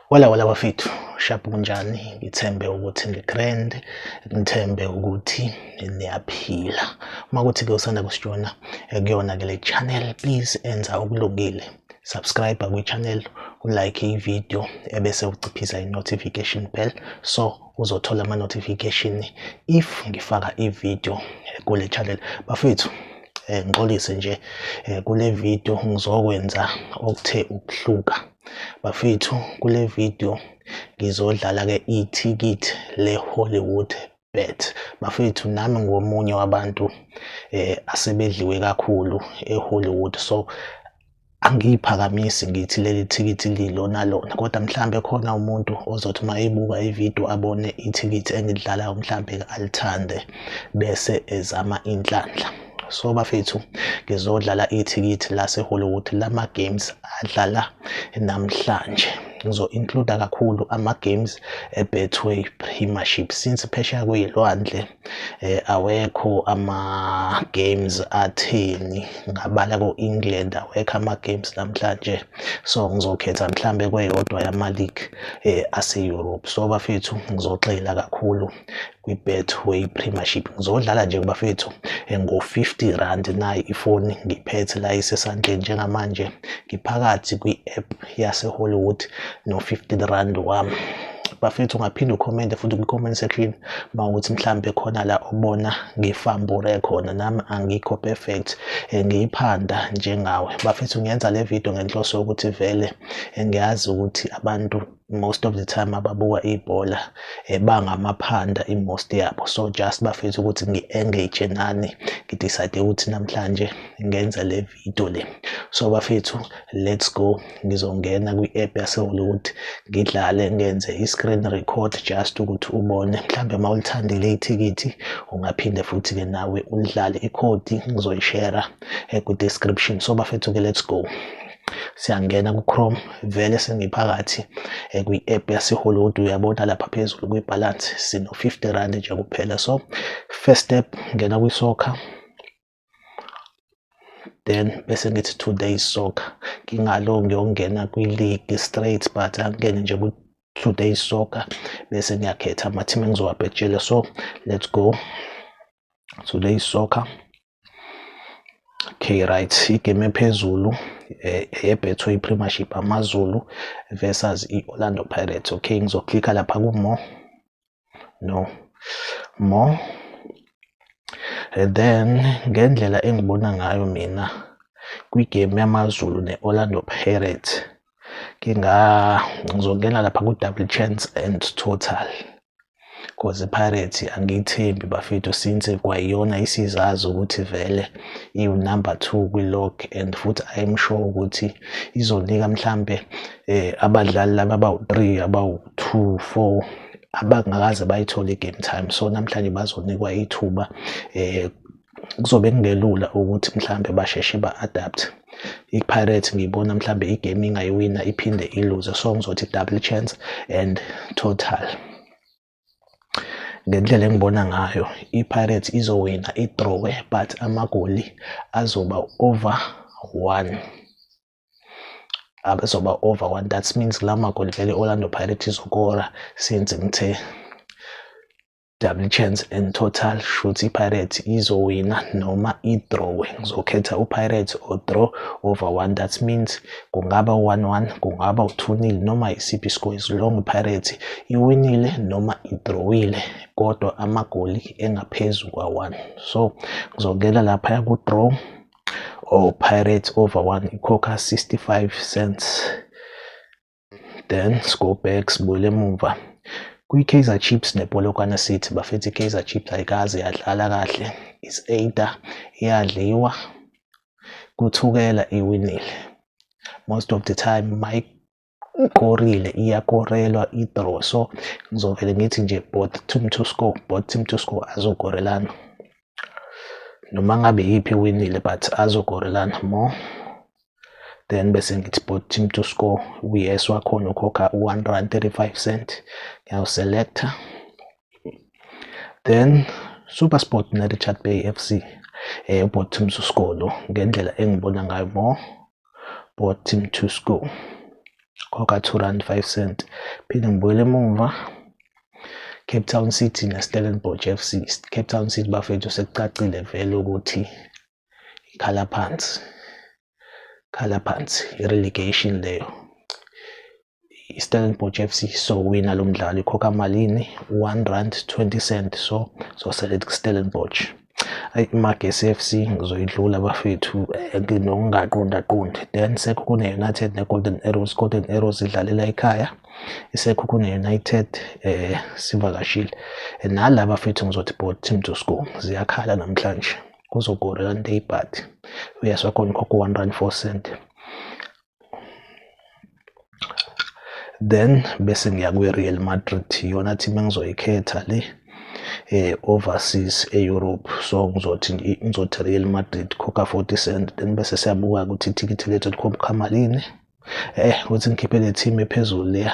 Wala wala bafethu shaphu kunjani ngithembe ukuthi ngigrand ngithembe ukuthi niyaphila uma kuthi ke usanda kusijona eh, kuyona ke le channel please enza okulungile subscribe kwi channel ulike i video ebese uciphisa i notification bell so uzothola ama notification if ngifaka i video kule channel bafethu eh, ngixolise nje eh, kule video ngizokwenza okuthe ukuhluka bafethu kule video ngizodlala ke ithikithi le Hollywood bet bafethu nami ngomunye wabantu eh asebedliwe kakhulu eHollywood so angiyiphakamisi ngithi leli thikithi lilona lona kodwa mhlambe khona umuntu ozothi uma ebuka ividiyo abone ithikithi engidlalayo mhlambe alithande bese ezama inhlanhla so bafethu ngizodlala ithikithi lasehollywood lama-games adlala namhlanje ngizo-includa kakhulu ama-games ebetway premiership since phesheya kuyilwandle eh awekho ama games atheni ngabala ko England awekho ama games namhlanje so ngizokhetha mhlambe kweyodwa yama league eh ase Europe so bafethu ngizogxila kakhulu kwi Betway Premiership ngizodlala nje bafethu eh, ngo 50 rand nayi ifoni ngiphethe la isesandleni njengamanje ngiphakathi kwi app yaseHollywood no-15 rand wami bafethu ungaphinde ukhomente futhi kwi-comment section uma ukuthi mhlampe khona la obona ngifambure khona nami angikho perfect eh, ngiyiphanda njengawe bafethu ngiyenza le video ngenhloso yokuthi vele eh, ngiyazi ukuthi abantu most of the time ababuka ibhola eh, bangamaphanda i-most yabo so just bafethu ukuthi ngi-engage nani ngidecide ukuthi namhlanje ngenza le Ipitoli. So bafethu let's go ngizongena kwi-app yaseHollywood ngidlale ngenze i-screen record just ukuthi ubone mhlawumbe uma ulithandile ithikithi ungaphinde futhi-ke nawe ulidlale ikhodi ngizoyishera eh, ku-description so bafethu-ke let's go siyangena ku-chrome vele sengiphakathi eh, kwi-app yasehollywood uyabona lapha phezulu kwi-balance sino-50 rand nje kuphela so first step ngena kwi-soccer then bese ngithi two days soccer ngingalo ngiyongena kwi-league straight but angingene nje ku-two days soccer bese ngiyakhetha ama-team engizowabhejela so let's go two days soccer okay right igame ephezulu eh, ebethwe i-premiership amazulu versus i-orlando pirates okay ngizoklikha lapha ku-more no more and then ngendlela engibona ngayo mina kwigame yamazulu ne-orlando pirates ngingazongena lapha ku-double chance and total cause ipirates angiyithembi bafethu since kwayiyona isizazi ukuthi vele iwunumber two kwi-log and futhi im sure ukuthi izonika mhlampe um abadlali laba abawu-three abawu to four abangakaze bayithole i-game time so namhlanje bazonikwa ithuba um kuzobe kungelula ukuthi mhlawumbe basheshe ba-adapt i-pirates ngiyibona mhlawumbe igame ingayiwina iphinde iluze so ngizothi double chance and total ngendlela engibona ngayo i-pirates izowina idrowe but amagoli azoba over one abezoba over one that means la magoli vele Orlando Pirates izokora since ngithe double chance in total shuthi iPirates izowina noma idrowe ngizokhetha uPirates or draw over one that means kungaba 1-1 kungaba u-2-0 noma isiphi iscore as long iPirates iwinile noma idrowile kodwa amagoli engaphezu kwa-1 so ngizongena lapha ku-draw or Pirates over 1 ikhokha 65 cents then score back sibuyele emuva kwi-Kaizer Chiefs nePolokwane City bafethu i-Kaizer Chiefs ayikaze yadlala kahle is-Ada iyadliwa kuthukela iwinile most of the time Mike ikorile iyakorelwa idraw so ngizovele ngithi nje both team to score both team to score azokorelana noma ngabe yiphi winile but azokorelana more then bese ngithi both team to score uyes wakhona ukhokha u-1 rand 35 cent ngiyawuselecta then supersport nerichard bay f c um eh, ubot team to score lo ngendlela engibona ngayo more bought him to school khokha 2 rand 5 cent phinde ngibuyele emuva Cape Town City neStellenbosch FC Cape Town City bafethu sekucacile vele ukuthi ikhala phansi khala phansi i-relegation leyo iStellenbosch FC sowina lo mdlalo ikhokha malini 1 rand 20 cent so soselet kuStellenbosch ayi iMagesi FC ngizoyidlula bafethu eh, nokungaqonda qondi then sekho kune United ne Golden Arrows Golden Arrows idlalela ekhaya isekho kune United eh sivakashile eh, nala bafethu ngizothi both team to score ziyakhala namhlanje kuzogora kanti ibhathi uyaswa khona khokho 1 rand 4 cent then bese ngiya kwi-real madrid yona team engizoyikhetha le eh overseas e-Europe so ngizothi ngizothi Real Madrid khokha 40 cent then bese siyabuka ukuthi ithikithi lethu likhomkhama lini eh ukuthi ngikhiphe le team ephezulu leya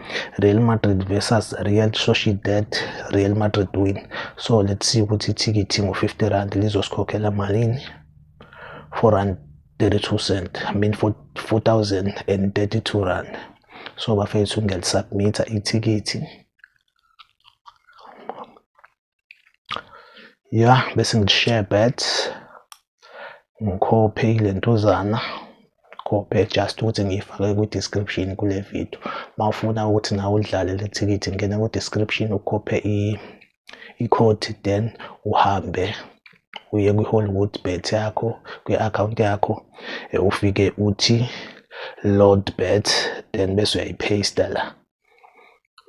Real Madrid versus Real Sociedad Real Madrid win so let's see ukuthi ithikithi ngo-50 rand lizosikhokhela malini 4 rand 32 cent I mean 4032 rand so bafethu ngiyalisubbmitha ithikithi ya bese ngi-share bet ngikhophe ilentuzana khophe just ukuthi ngiyifake kwi-description kule video uma ufuna ukuthi nawe udlale le thikithi ngena kwi-description ukhophe i-code then uhambe uye kwi-hollywood bet yakho kwi-akhawunti yakho ufike uthi load bet then bese uyayipheyista la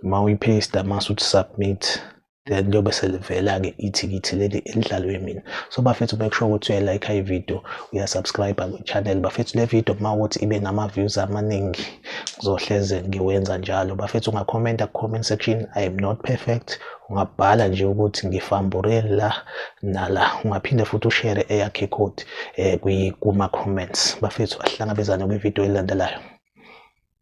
uma uyipaste mase uthi submit then liyobe selivela-ke ithikithi leli elidlalwe mina so bafethu make sure ukuthi uyayilike ividiyo uyasubscribe kwi-channel bafethu le vidiyo uma ukuthi ibe nama-views amaningi ngizohleze ngiwenza njalo bafethu ungakhomenta ku-comment section i am not perfect ungabhala nje ukuthi ngifambure la nala ungaphinde futhi ushere eyakhe ikhodi um eh, kuma-comments bafethu asihlangabezane kwividiyo elilandelayo